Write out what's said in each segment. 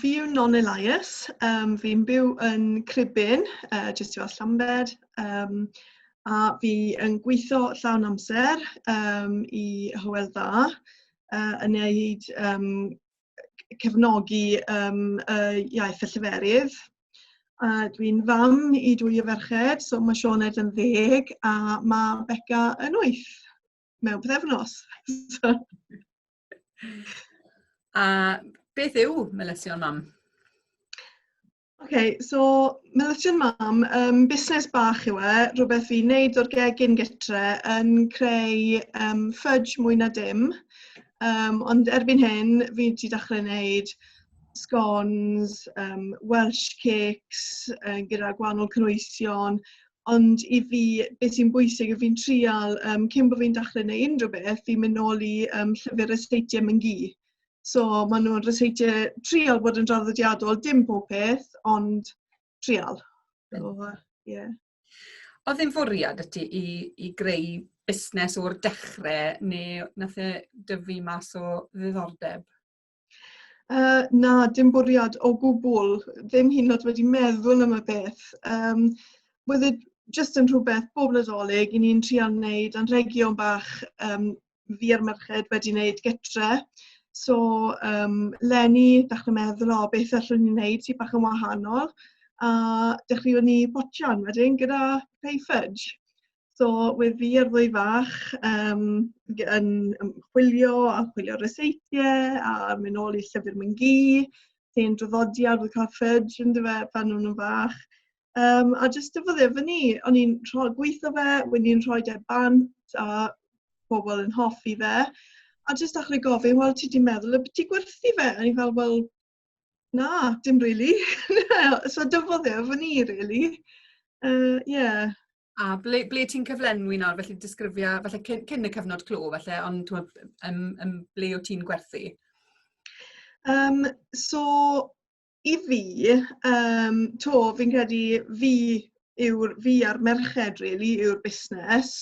Fi yw Non Elias, um, fi'n byw yn Cribyn, uh, jyst tu as Llambed, um, a fi yn gweithio llawn amser um, i Hywel Dda, uh, yn neud um, cefnogi um, uh, iaith y lleferydd. Uh, Dwi'n fam i dwy o ferched, so mae Sioned yn ddeg a mae Becca yn wyth mewn pethefnos. so. A beth yw melysion mam? Okay, so Milton Mam, um, busnes bach yw e, rhywbeth i wneud o'r gegin gytre yn creu um, fudge mwy na dim. Um, ond erbyn hyn, fi wedi dechrau wneud scones, um, Welsh cakes uh, gyda gwahanol cynwysion, ond i fi, beth sy'n bwysig, fi'n trial, um, cyn bod fi'n dechrau neu unrhyw beth, fi'n mynd nôl i um, llyfr y seitiau mynd gi. So maen nhw'n rhysheitio trial bod yn draddodiadol, dim pob peth, ond trial. So, uh, yeah. Oedd e'n fwriad y ti i, i greu busnes o'r dechrau neu nath e dyfu mas o ddiddordeb? Uh, na, dim bwriad o gwbl. Ddim hyn oed wedi meddwl am y beth. Um, Wydde, just yn rhywbeth bob nadolig, i ni'n trial wneud anrhegion bach um, fi a'r merched wedi wneud gytre. So, um, Lenny, ddechrau meddwl, o, beth allwn ni'n wneud sy'n bach yn wahanol. A dechrau ni botian wedyn gyda pay fudge. So, we fi ar ddwy fach um, yn chwilio a chwilio reseitiau a mynd ôl i llyfr mynd gi, sy'n draddodiad o cael fudge yn dyfa pan nhw'n fach. Um, a jyst dyfoddio fy ni, o'n i'n rhoi gweithio fe, wedi i'n rhoi dau e bant a pobl yn hoffi fe. A jyst achri gofyn, wel, ti di meddwl y beth ti gwerthu fe? A ni fel, wel, na, dim really. so dyfoddio fy ni, really. Uh, yeah. A ble, ble ti'n cyflenwi nawr, felly disgrifio, felly cyn, cyn y cyfnod clo, felly, ond twa, um, um, ble o ti'n gwerthu? Um, so, i fi, um, to, fi'n credu fi yw'r fi a'r merched really yw'r busnes.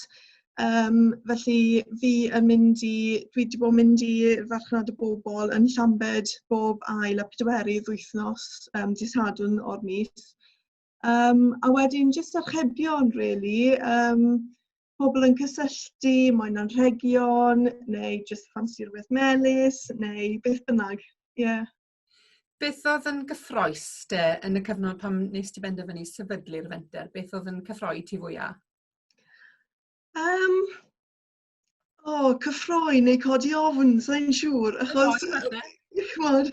Um, felly fi yn mynd i, dwi wedi bod yn mynd i farchnad y bobl yn Llambed bob ail a pedwerydd wythnos um, disadwn o'r mis. Um, a wedyn jyst archebion really, um, pobl yn cysylltu, mae'n anrhegion, neu jyst ffansi rhywbeth melus, neu beth bynnag. Ie. Yeah. Beth oedd yn gyffroes te yn y cyfnod pan wnes ti benderfynu sefydlu'r fenter? Beth oedd yn cyffroi ti fwya? Um, o, oh, cyffroi neu codi ofn, sa'n siŵr, achos... Chymod,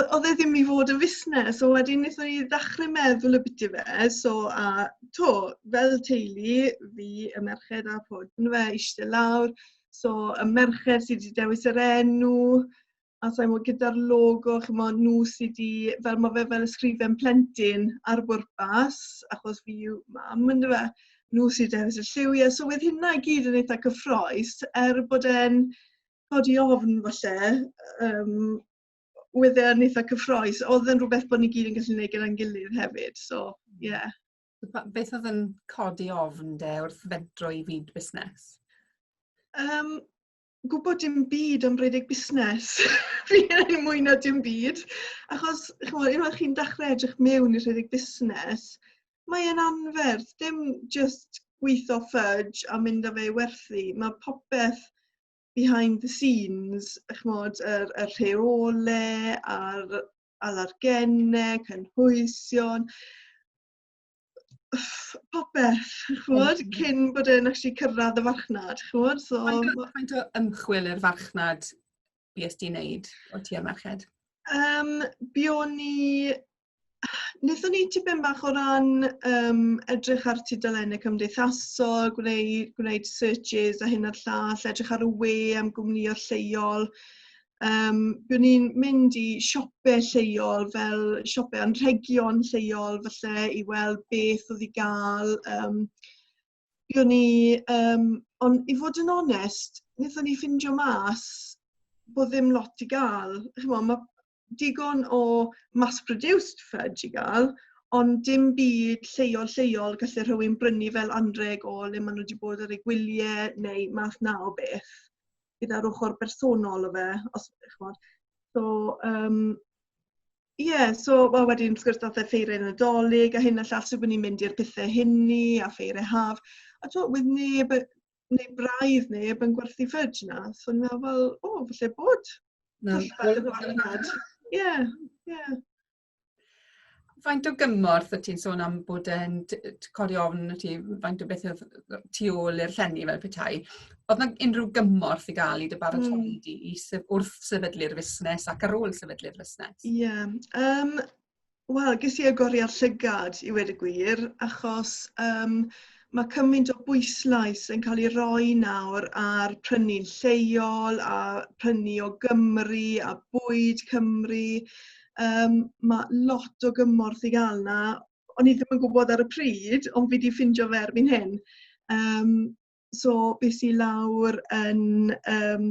oedd e ddim i fod yn fusnes, so wedyn wnaethon ni ddechrau meddwl y bit i fe, so a to, fel teulu, fi, y merched a pod, yn fe, eistedd lawr, so y merched sydd wedi dewis yr enw, a sa'n gwybod gyda'r logo, chymod, nhw sydd wedi, fel mae fe fel ysgrifen plentyn ar bwrpas, achos fi yw mam, ynddo fe, nhw sydd wedi hefyd y lliwiau. So wedd hynna i gyd yn eitha cyffroes, er bod e'n codi ofn falle, um, wedd e'n eitha cyffroes. Oedd yn rhywbeth bod ni gyd yn gallu gwneud gyda'n gilydd hefyd, so ie. Yeah. Beth oedd yn codi ofn de wrth fedro i fyd busnes? Um, gwybod dim byd am rhedeg busnes. fi yn mwy na dim byd. Achos, chymod, unwaith chi'n dechrau edrych mewn i rhedeg busnes, mae e'n anferth. Dim just gweithio fudge a mynd â fe i werthu. Mae popeth behind the scenes, chymod, yr, y rheole a'r alargennau, cynhwysion. popeth, chwod, cyn bod e'n actually cyrraedd y farchnad, chwod. So... Faint o ymchwil i'r farchnad bys di'n neud o ti am merched? Um, Bion ni... Nethon ni tipyn bach o ran um, edrych ar tudalennau cymdeithasol, gwneud, gwneud searches a hyn a'r llall, edrych ar y we am gwmnïau lleol, Um, byddwn ni'n mynd i siopau lleol fel siopau anrhegion lleol falle i weld beth oedd i gael. Um, byddwn ni, um, ond i fod yn onest, wnaethon ni ffindio mas bod ddim lot i gael. Chymod, mae digon o mass-produced fudge i gael, ond dim byd lleol lleol gallu rhywun brynu fel anreg o le maen nhw wedi bod ar eu gwyliau neu math na o beth. gyda'r ochr bersonol o fe, os ydych chi'n gwybod. So, um, Ie, yeah, so well, wedyn wrth gwrs dath e ffeiriau nadolig a hyn a llall, so bod ni'n mynd i'r pethau hynny a ffeiriau haf. A to, wedd neb, neu braidd neb yn gwerthu ffridge na. So ni'n meddwl, fel, o, falle bod. Na, Ie, ie. Faint o gymorth y ti'n sôn am bod yn codi ofn y ti, faint o beth oedd tu ôl i'r llenni fel petai? Oedd yna unrhyw gymorth i gael i dy baratoi mm. di i syf, wrth sefydlu'r fusnes ac ar ôl sefydlu'r fusnes? Ie. Yeah. Um, Wel, ges i agoriad llygad i wedi gwir, achos um, Mae cymaint o bwyslais yn cael ei roi nawr ar prynu'n lleol a prynu o Gymru a bwyd Cymru. Um, mae lot o gymorth i gael na. O'n i ddim yn gwybod ar y pryd, ond fi wedi ffindio fe erbyn hyn. Um, so, beth i lawr yn... Um,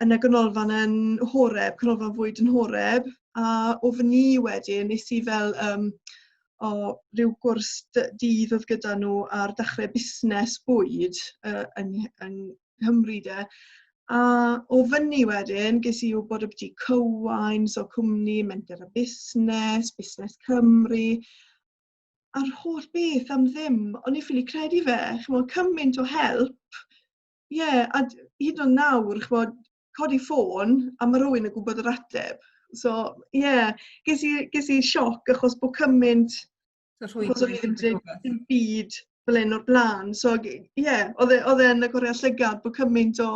yn y ganolfan yn Horeb, canolfan fwyd yn Horeb, a o fy ni wedyn, nes i fel um, o rhyw gwrs dydd oedd gyda nhw ar dechrau busnes bwyd uh, yn, yn Nghymru de. A o fyny wedyn, ges i wybod y byti cywain, so cwmni, menter a busnes, busnes Cymru, a'r holl beth am ddim. O'n i'n ffili credu fe, chymod, cymaint o help Ie, yeah, a hyd yn oed nawr, chymod, codi ffôn a mae rhywun yn gwybod yr ateb. So, ie, yeah, ges, i, ges i sioc achos bod cymaint, achos o'n i ddim yn byd fel un o'r blaen. So, ie, yeah, oedd e, e yn y gorau llygad bod cymaint o,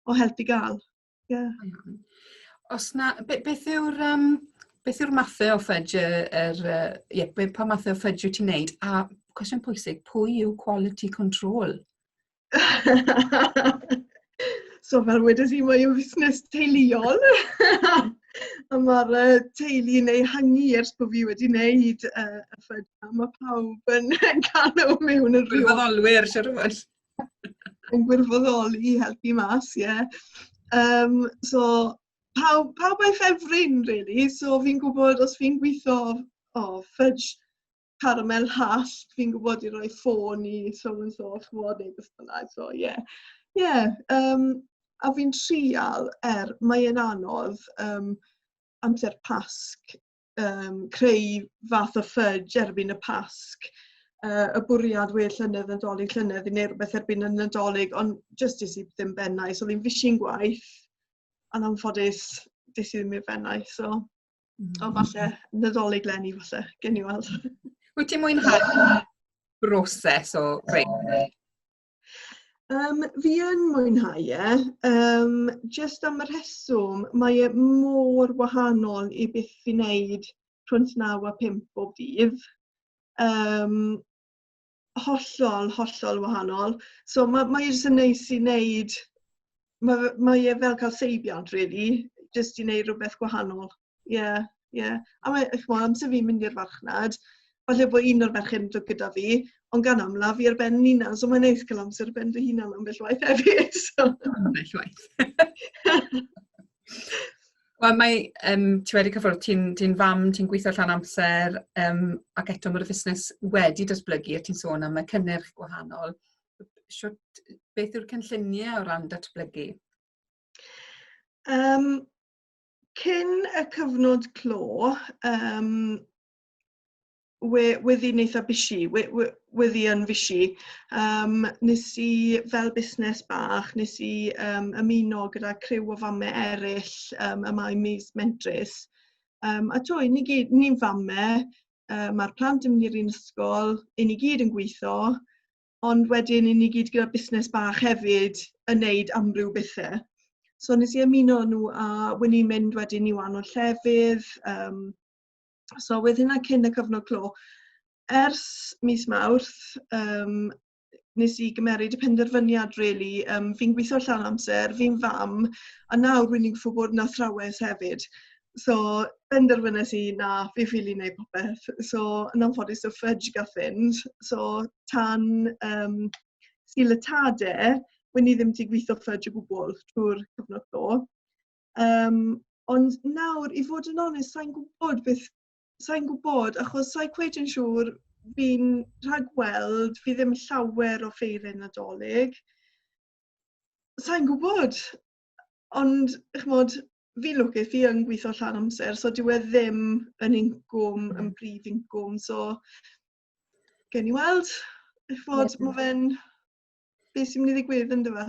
o help i gael. Yeah. Os na, be, beth yw'r um, beth yw'r mathau o ffudge, er, uh, yeah, be, pa mathau o ffudge wyt ti'n neud? A cwestiwn pwysig, pwy yw quality control? so fel wedes i, mae yw fusnes teuluol. a mae'r uh, teulu yn ei hangi ers bod fi wedi wneud uh, y ffudge. Mae pawb yn cael nhw mewn yn rhyw. Rhyw Rhyfeddolwyr, siarad yn gwirfoddoli i helpu mas, ie. Yeah. Um, so, pawb, pawb a'i ffefryn, really. So, fi'n gwybod os fi'n gweithio o oh, fudge caramel hall, fi'n gwybod i roi ffôn i so and so, chymod, neu beth bynnag. So, ie. Yeah. Ie. Yeah, um, a fi'n trial, er, mae'n anodd um, amser pasg um, creu fath o ffudge erbyn y Pasg, uh, y bwriad we llynedd, nadolig llynedd, i wneud rhywbeth erbyn y nadolig, ond just dis i ddim bennau. So ddim fishing gwaith, a'n anffodus, dis i ddim i'r bennau. So, mm. o falle, nadolig lenni falle, gen i weld. Wyt ti'n mwynhau broses o greu? Um, fi yn mwynhau e, um, jyst am y rheswm, mae e mor wahanol i beth fi wneud rhwnt naw a pimp bob dydd. Um, hollol, hollol wahanol. So mae, mae e jyst yn neis i wneud, mae, mae e fel cael seibiant, really, jyst i wneud rhywbeth gwahanol. Ie, yeah, ie. Yeah. A mae, eich mor, amser fi'n mynd i'r farchnad, falle bod un o'r merched yn dod gyda fi, ond gan amla fi ar ben yn unan, so mae'n neis cael amser ar ben fy hunan am bell waith hefyd. So. Am bell waith. Wel, mae, um, ti wedi cyfrwyd, ti'n ti fam, ti'n gweithio allan amser, um, ac eto mae'r fusnes wedi datblygu, a ti'n sôn am y cynnyrch gwahanol. Siwt, beth yw'r cynlluniau o ran datblygu? Um, cyn y cyfnod clo um, we, weddi neitha bisi, we, we, weddi yn fisi, um, nes i fel busnes bach, nes i um, ymuno gyda criw o famme eraill um, y mae mis mentrus. Um, a to, ni gyd, ni'n famme, um, mae'r plant yn mynd i'r un ysgol, i ni gyd yn gweithio, ond wedyn i ni gyd gyda busnes bach hefyd yn neud amryw bethe. So nes i ymuno nhw a wyn ni'n mynd wedyn i wahanol llefydd. Um, so wedd hynna cyn y cyfnod clo. Ers mis Mawrth, um, nes i gymeryd y penderfyniad really, um, fi'n gweithio llawn amser, fi'n fam, a nawr rwy'n ni'n gwybod bod yna thrawes hefyd. So, benderfynais i na fi ffili wneud popeth. So, yn anffodus y ffridge gath fynd. So, tan um, sy'n lytade, wyn i ddim ti gweithio ffridge o gwbl trwy'r cyfnod do. Um, ond nawr, i fod yn onest, sa'n gwybod beth, sa'n gwybod, achos sa'n cweud yn siŵr, fi'n rhagweld, fi ddim llawer o ffeiriau nadolig. Sa'n gwybod, ond, chymod, fi lwcus, fi yn gweithio llan amser, so dyw e ddim yn incwm, mm. yn brif incwm, so gen ni weld, eich fod, yeah. mae fe'n, beth sy'n mynd i ddigwydd yn dyfa?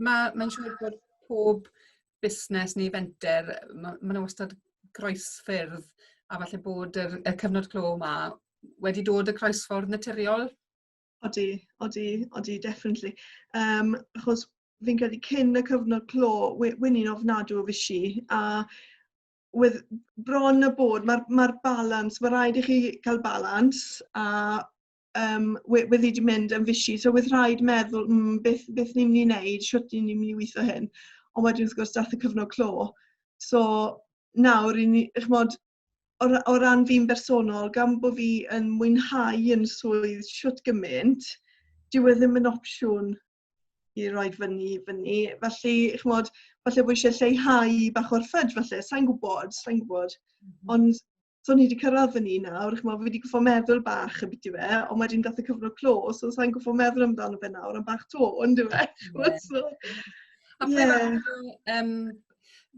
Mae'n ma siŵr bod pob busnes neu fenter, mae ma nhw wastad groesffyrdd, a falle bod y, y cyfnod clo yma wedi dod y croesffordd naturiol Odi, odi, odi, definitely. Um, achos fi'n credu cyn y cyfnod clo, wy'n i'n ofnadw o fysi, a with bron y bod, mae'r ma balans, mae rhaid i chi cael balans, a um, wedi wedi mynd yn fysi, so with rhaid meddwl, mm, beth, beth ni'n mynd i wneud, sut ni'n mynd i weithio hyn, ond wedyn wrth gwrs dath y cyfnod clo. So nawr, i ni, chmod, o, o ran fi'n bersonol, gan bod fi yn mwynhau yn swydd siwt gymaint, dyw e ddim yn opsiwn i roi fyny fyny. Felly, chymod, falle bod eisiau lleihau bach o'r ffyd, falle, sa'n gwybod, sa'n gwybod. Mm -hmm. Ond, so ni wedi cyrraedd fyny nawr, chymod, fi wedi gwybod meddwl bach y byd i fe, ond wedyn gath y cyfnod clo, so sa'n gwybod meddwl amdano fe nawr, am bach to, ond yw e. Yeah. So, a yeah. um,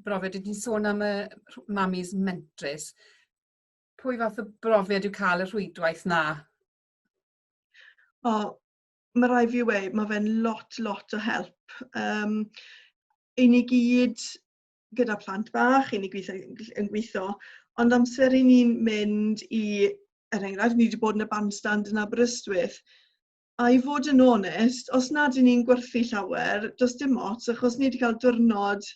brofiad, dwi wedi sôn am y mamis mentrus. Pwy fath o brofiad yw cael y rhwydwaith na? O, mae rai fi wei, mae fe'n lot, lot o help. Um, I ni gyd gyda plant bach, i ni gweithio, yn gweithio, ond amser i ni'n mynd i, er enghraifft, ni wedi bod yn y bandstand yn Aberystwyth, A i fod yn onest, os nad y'n ni'n gwerthu llawer, does dim ots, achos ni wedi cael diwrnod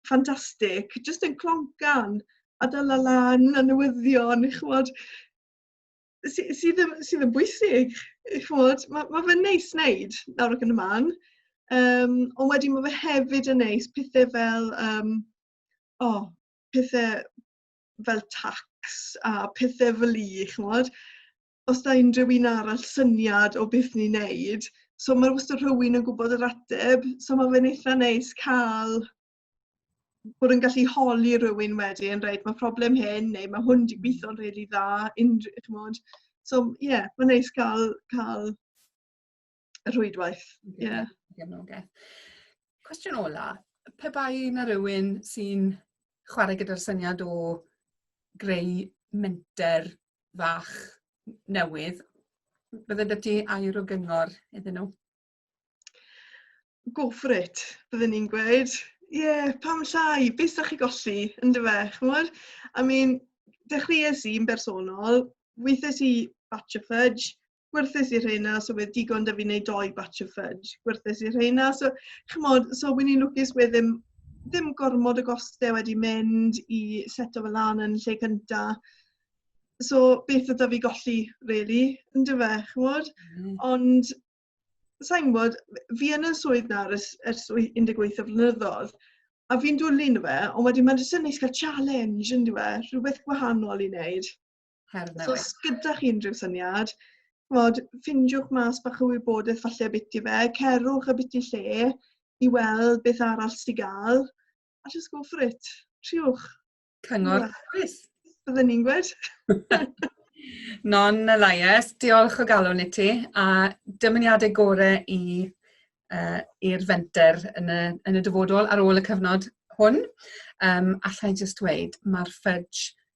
ffantastig, jyst yn cloncan a dala lan a newyddion, chymod, sydd sy ddim, sy ddim bwysig, chymod, mae ma fe'n neis wneud nawr ac yn y man, um, ond wedyn mae fe hefyd yn neis pethau fel, um, o, oh, pethau fel tax a pethau fel i, chymod, os da unrhyw un arall syniad o beth ni'n neud. So mae wastad rhywun yn gwybod yr ateb, so mae fe'n eitha neis cael bod yn gallu holi rhywun wedyn, reit, mae problem hyn, neu mae hwn wedi gweithio'n rili really dda, unrhyw, chymod. So, ie, yeah, mae'n neis cael, cael y rhwydwaith. Ie. Yeah. Gefnogaeth. Cwestiwn ola, pe bai na rhywun sy'n chwarae gyda'r syniad o greu menter fach newydd, bydde dy ti air o gyngor iddyn nhw? Go for it, byddwn ni'n gweud. Ie, yeah, pam llai, beth da chi golli, yn dy fe, chymod? I mean, dechreuais i'n bersonol, weithiais i batch of fudge, gwerthes i rheina, so fe digon da fi wneud doi batch of fudge, gwerthes i rheina. So, chymod, so wy'n i'n lwcus we ddim, ddim gormod o gostau wedi mynd i set o fel lan yn lle cynta. So, beth ydw fi golli, really, yn dy fe, chymod? Mm. Ond, sa'n gwybod, fi yn y swydd na ers, ers 18 o flynyddoedd, a fi'n dwlu yn fe, ond wedyn mae'n jyst yn neis cael challenge yn dweud, rhywbeth gwahanol i wneud. her newydd. So, os gyda chi unrhyw syniad, chymod, ffindiwch mas bach o wybodaeth falle biti fe, cerwch y biti lle i weld beth arall sy'n gael, a just go for it. Triwch. Cyngor dewis. Byddwn ni'n gwed. Non y laies, diolch o galon i ti, a dymuniadau gore i uh, i'r fenter yn y, yn y dyfodol ar ôl y cyfnod hwn. Um, allai jyst dweud, mae'r ffridge